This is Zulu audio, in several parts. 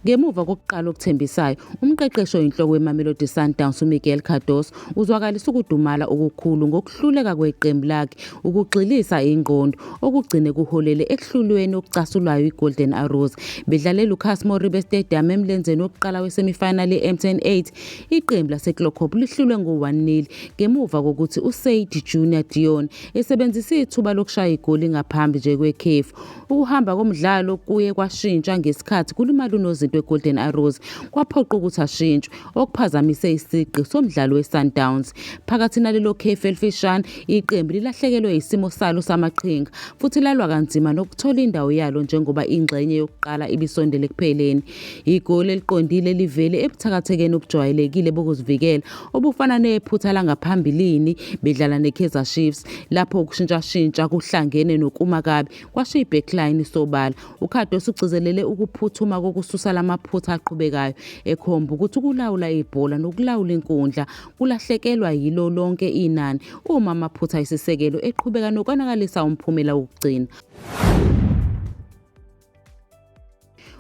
Ngemuva kokuqala okuthembisayo, umqeqeshi oyinhloko weMamelodi Sundowns uMiguel Cardoso uzwakalisa ukudumala okukhulu ngokuhluleka kweqembu lakhe ukugxilisa ingqondo okugcine kuholele ekuhlulweni okucasulwayo iGolden Arrows bedlale Lucas Moribe Stadium emlenzeni wokuqala wesemifinali ye-MTN 8 iqembu laseClockhope lihlulwe ngo-1-0 ngemuva kokuthi uSaid Junior Dion Isebenzise ithuba lokushaya igoli ngaphambi nje kwekhefu. Ukuhamba komdlalo kuye kwashintsha ngesikhathi kulimala unozinto weGolden Arrows, kwaphoqa ukuthi ashintshwe, okuphazamise isigqi somdlalo weSundowns. Phakathi nalelo khefu elifishane, iqembu lilahlekelwe isimo salo samaqhinga futhi lalwa kanzima nokuthola indawo yalo njengoba ingxenye yokuqala ibisondele ekupheleni. Igoli eliqondile livele ebuthakathekeni obujwayelekile bokuzivikela, obufana nephutha langaphambilini bedlala neKaizer Chiefs lapho ukushintshashintsha kuhlangene nokuma kabi kwashiya ibackline isobala. UKhado usugcizelele ukuphuthuma kokususa lamaphutha aqhubekayo ekhomba ukuthi ukulawula ibhola nokulawula inkundla kulahlekelwa yilo lonke inani uma amaphutha isisekelo eqhubeka nokonakalisa umphumela wokugcina.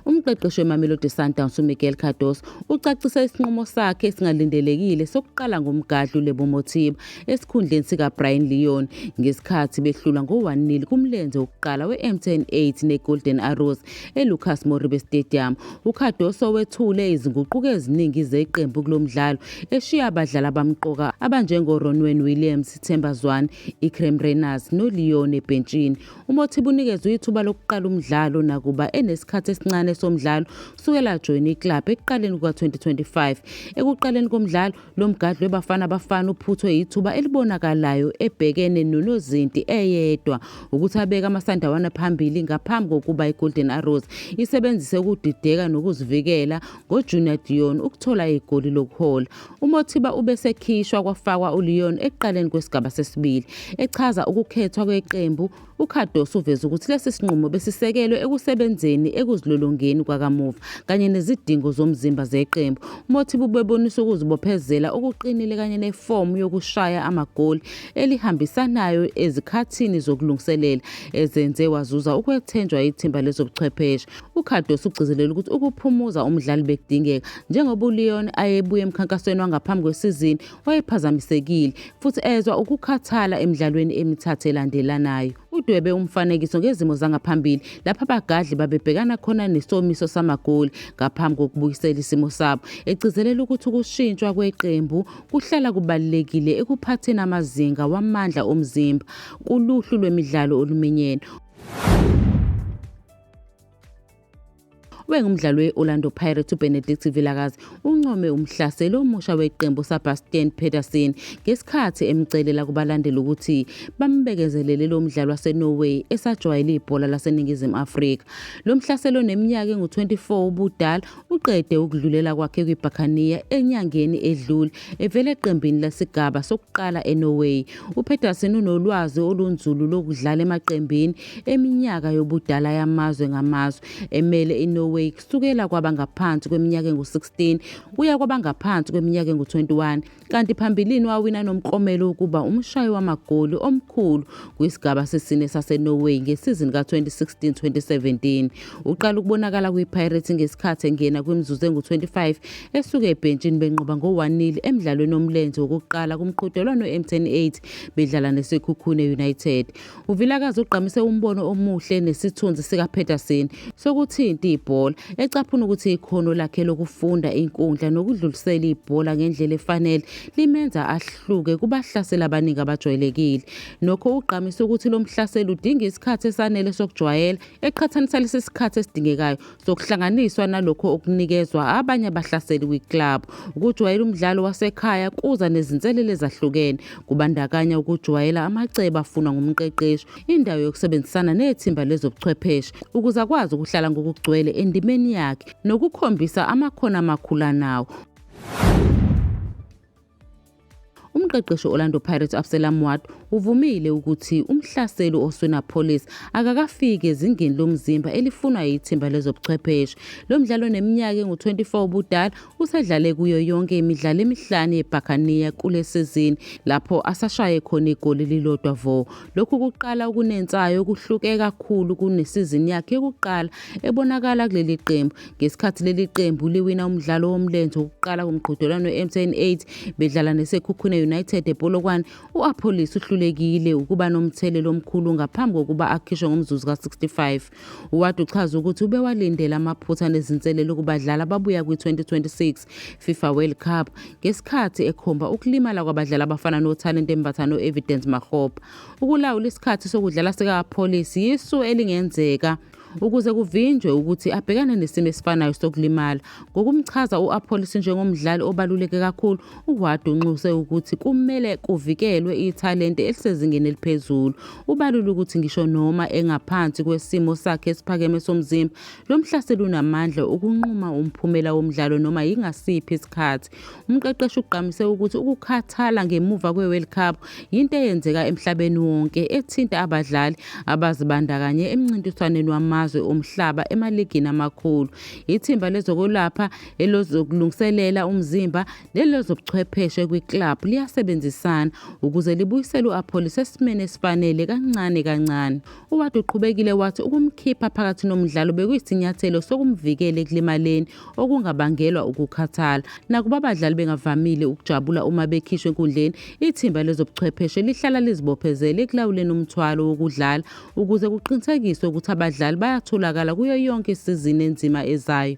Umqeqeshi weMamelodi Sundowns uMiguel Cardoso ucacisa isinqumo sakhe esingalindelekile sokuqala ngomgadli uLebo Mothiba esikhundleni sikaBrian Leon ngesikhathi behlulwa ngo-1-0 kumlenze wokuqala we-M10 8 neGolden Arrows eLucas Moribe Stadium. UCardoso wethule izinguquko eziningi zeqembu kulo mdlalo eshiya abadlali abamqoka abanjengoRonwen Williams, Themba Zwane, Ikrem Reyners noLeon ebhentshini. UMothiba unikezwe ithuba lokuqala umdlalo nakuba enesikhathi esincane somdlalo kusukela ajoyine iklabhu ekuqaleni kuka-2025. Ekuqaleni komdlalo, lo mgadli weBafana Bafana uphuthwe yithuba elibonakalayo ebhekene nonozinti eyedwa ukuthi abeke amasandawana phambili ngaphambi kokuba iGolden Arrows isebenzise ukudideka nokuzivikela ngoJunior Dion ukuthola igoli lokuhola. UMothiba ubesekhishwa kwafakwa uLeon ekuqaleni kwesigaba sesibili. Echaza ukukhethwa kweqembu, uCardoso uveze ukuthi lesi sinqumo besisekelwe ekusebenzeni ekuzilolongeni kwakamuva kanye nezidingo zomzimba zeqembu. UMothiba ubebonisa ukuzibophezela okuqinile kanye nefomu yokushaya amagoli elihambisanayo ezikhathini zokulungiselela ezenze wazuza ukwethenjwa yithimba lezobuchwepheshe. UCardoso ugcizelele ukuthi ukuphumuza umdlali bekudingeka njengoba uLeon ayebuye emkhankasweni wangaphambi kwesizini wayephazamisekile futhi ezwa ukukhathala emidlalweni emithathu elandelanayo. Udwebe umfanekiso ngezimo zangaphambili lapho abagadli babebhekana khona nesomiso samagoli ngaphambi kokubuyisela isimo sabo, egcizelela ukuthi ukushintshwa kweqembu kuhlala kubalulekile ekuphatheni amazinga wamandla omzimba kuluhlu lwemidlalo oluminyene. ubengumdlali we-orlando pirates ubenedict vilakazi uncome umhlaseli omusha weqembu usabastian peterson ngesikhathi emcelela kubalandeli ukuthi bambekezelele lo mdlali wasenorway esajwayele ibhola laseningizimu afrika lo mhlaseli oneminyaka engu-24 ubudala uqede ukudlulela kwakhe kwibhakaniya enyangeni edlule evela eqembini lesigaba sokuqala enorway upeterson unolwazi olunzulu lokudlala emaqembini Iminyaka yobudala yamazwe ngamazwe emele iNorway kusukela kwabangaphansi kweminyaka engu-16 kuya kwabangaphansi kweminyaka engu-21 kanti phambilini wawina nomklomelo wokuba umshayi wamagoli omkhulu kwisigaba sesine saseNorway ngesizini ka-2016-2017. Uqala ukubonakala kwiPirates ngesikhathi engena kwimizuzu engu-25 esuke ebhentshini benqoba ngo-1-0 emdlalweni omlenze wokuqala kumqhudelwano we-M10 8 bedlala neSekhukhune United. UVilakazi ugqamise umbono omuhle nesithunzi sikaPetersen sokuthinta ibhola, ecaphuna ukuthi ikhono lakhe lokufunda inkundla nokudlulisela ibhola ngendlela efanele limenza ahluke kubahlaseli abaningi abajwayelekile. Nokho ugqamise ukuthi lo mhlaseli udinga isikhathi esanele sokujwayela, eqhathanisa lesi sikhathi esidingekayo zokuhlanganiswa nalokho okunikezwa abanye abahlaseli kwi-club. Ukujwayela umdlalo wasekhaya kuza nezinselele ezahlukene, kubandakanya ukujwayela amacebo afunwa ngumqeqeshi, indawo yokusebenzisana nethimba lezobuchwepheshe ukuze akwazi ukuhlala ngokugcwele endimeni yakhe nokukhombisa amakhono amakhulu anawo. Umqeqeshi Orlando Pirates Absalom Ward uvumile ukuthi umhlaseli Oswena Police akakafiki ezingeni lomzimba elifunwa yithimba lezobuchwepheshe. Lo mdlalo neminyaka engu-24 ubudala usedlale kuyo yonke imidlalo emihlanu yeBhakaniya kule sizini lapho asashaye khona igoli lilodwa vo. Lokhu kuqala okunensayo okuhluke kakhulu kunesizini yakhe yokuqala ebonakala kuleli qembu ngesikhathi leli qembu liwina umdlalo womlenze wokuqala kumqhudelwano we-mtn 8 bedlala nesekhukhune united epolokwane u-apholis uhlulekile ukuba nomthelelo omkhulu ngaphambi kokuba akhishwe ngomzuzu ka-65 uwade uchaze ukuthi ubewalindele amaphutha nezinselelo kubadlali ababuya kwi-2026 fifa world cup ngesikhathi ekhomba ukulimala kwabadlali abafana nothalente mbatha no-evidence mahopa ukulawula isikhathi sokudlala sika-apholis yisu elingenzeka ukuze kuvinjwe ukuthi abhekane nesimo esifanayo sokulimala. Ngokumchaza u-Appolis njengomdlali obaluleke kakhulu, uWard unxuse ukuthi kumele kuvikelwe ithalente elisezingeni eliphezulu. Ubalule ukuthi ngisho noma engaphansi kwesimo sakhe esiphakeme somzimba, lo mhlaseli unamandla okunquma umphumela womdlalo noma yingasiphi isikhathi. Umqeqeshi ugqamise ukuthi ukukhathala ngemuva kwe-World Cup yinto eyenzeka emhlabeni wonke ethinta abadlali abazibandakanye emncintiswaneni wamazwe omhlaba emaligini amakhulu. Ithimba lezokwelapha elozokulungiselela umzimba nelozobuchwepheshe kwi-club liyasebenzisana ukuze libuyisele u-Apollis esimeni esifanele kancane kancane. UWade uqhubekile wathi ukumkhipha phakathi nomdlalo bekuyisinyathelo sokumvikela ekulimaleni okungabangelwa ukukhathala. Nakuba abadlali bengavamile ukujabula uma bekhishwe enkundleni, ithimba lezobuchwepheshe lihlala lizibophezele ekulawuleni umthwalo wokudlala ukuze kuqinisekiswe ukuthi abadlali bayatholakala kuyo yonke isizini enzima ezayo.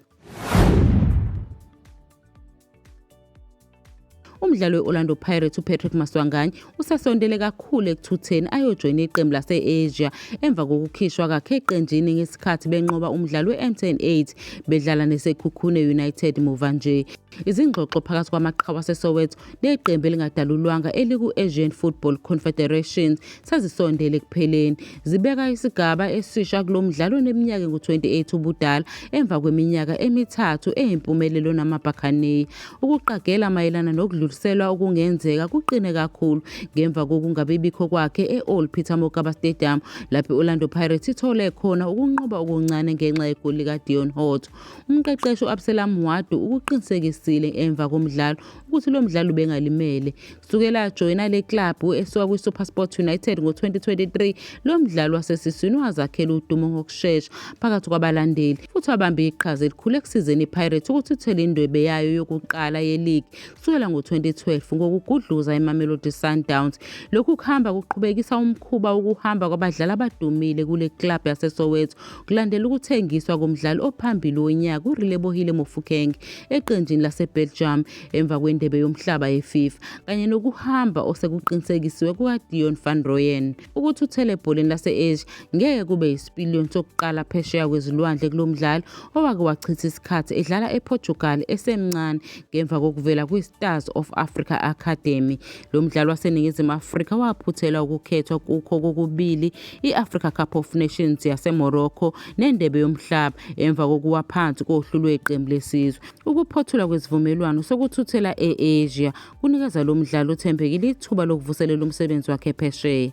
Umdlali we-Orlando Pirates uPatrick Maswanganyi usesondele kakhulu ekuthutheni ayojoyina iqembu lase-Asia emva kokukhishwa kakhe eqenjini ngesikhathi benqoba umdlalo we-MTN 8 bedlala neSekhukhune United muva nje. Izingxoxo phakathi kwamaqhawe aseSoweto neqembu elingadalulwanga eliku-Asian Football Confederation sezisondele ekupheleni. Zibeka isigaba esisha kulo mdlalo oneminyaka engu-28 ubudala emva kweminyaka emithathu eyimpumelelo namabhakhaneyi. Ukuqagela mayelana nokudluliselwa okungenzeka kuqine kakhulu ngemva kokungabibikho kwakhe e-Old Peter Mokaba Stadium lapho i-Orlando Pirates ithole khona ukunqoba okuncane ngenxa yegoli likaDeon Hort. Umqeqeshi u-Absalom Wadu ukuqinisekisile emva komdlalo ukuthi lo mdlali ubengalimele. Sukela ajoyina le klabhu esuka kwiSuperSport United ngo-2023, lo mdlali wasesiswini wazakhela udumo ngokushesha phakathi kwabalandeli futhi wabambe iqhaza elikhulu ekusizeni iPirates ukuthi ithole indwebe yayo yokuqala yeligi kusukela ngo-2012 ngokugudluza iMamelodi Sundowns. Lokhu kuhamba kuqhubekisa umkhuba wokuhamba kwabadlali abadumile kule klabhu yaseSoweto Kulandela ukuthengiswa komdlali ophambili wonyaka uRelebohile Mofokeng eqenjini laseBelgium emva kwendebe yomhlaba yeFIFA kanye nokuhamba osekuqinisekisiwe kukaDion van Rooyen. Ukuthuthela ebholeni lase-Asia ngeke kube yisipiliyoni sokuqala phesheya kwezilwandle kulo mdlali owake wachitha isikhathi edlala ePortugal esemncane ngemva kokuvela kwiStars of Africa Academy Lo mdlali waseNingizimu Afrika waphuthela ukukhethwa kukho kokubili i-Africa Cup of Nations yaseMorocco neNdebe yoMhlaba emva kokuwa phansi kohlu lweqembu lesizwe. Ukuphothulwa kwesivumelwano sokuthuthela e-Asia kunikeza lo mdlali othembekile ithuba lokuvuselela umsebenzi wakhe phesheya.